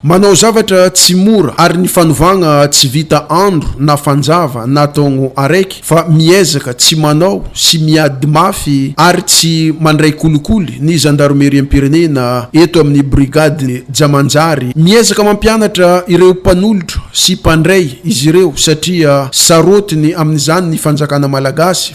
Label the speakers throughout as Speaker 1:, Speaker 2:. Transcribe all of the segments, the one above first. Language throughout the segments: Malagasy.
Speaker 1: Manao zavatra tsy mora ary ny fanovagna tsy vita andro na fanjava na taogno araiky fa miezaka tsy manao sy miady mafy ary tsy mandray kolikoly ny zandaromeriam-pirenena eto amin'ny brigade ja manjary miezaka mampianatra ireo mpanolotra sy mpandray izy ireo satria sarotiny amin'izany ny fanjakana malagasy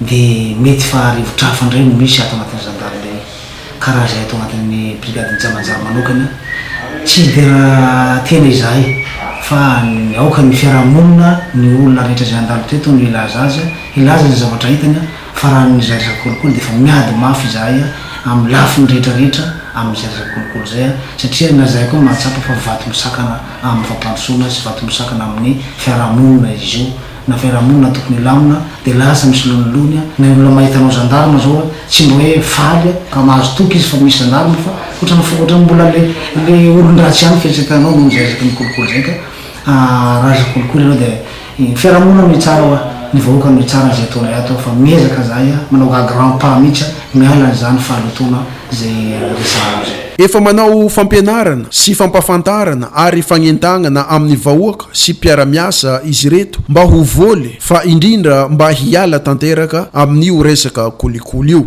Speaker 2: Dia mety fa rivotr'afo indray no misy ato anatin'ny Gendarmerie, karaha izay ato anatin'ny Brigadin'i Jamanjaro manokana. Tsy hidera tena izahay fa ny aokan'ny fiaraha-monina, ny olona rehetra izay handalo teto no hilaza azy, hilaza izay zavatra hitany fa raha ny izay resaka kolikoly dia efa miady mafy izahay amin'ny lafiny rehetra rehetra amin'izay resaka kolikoly izay satria na izahay koa mahatsapa fa vato misakana amin'ny fampandrosoana sy vato misakana amin'ny fiaraha-monina izy io. na fiarahamonina tokony hilamina dia lasa misolo ny lony a, ny olona mahita anao gendarme zao a tsy mba hoe faly a, ka mahazo toky izy fa misy gendarme fa otrany fa otrany mbola le le olondratsy ihany fieritreretanao noho izay resaky ny kolikoly zay ka a raha resaka kolikoly ianao dia ny fiarahamonina no hitsara hoa ny vahoaka no hitsara izay ataonay ato fa miezaka zahay a manao ga grand pas mihitsy a miala an'izany fahalotoana izay ampiasana azy. Efa manao
Speaker 1: fampianarana sy fampahafantarana ary fagnentagnana amin'ny vahoaka sy mpiara-miasa izy ireto mba ho voly fa indrindra mba hiala tanteraka amin'io resaka kolikoly io.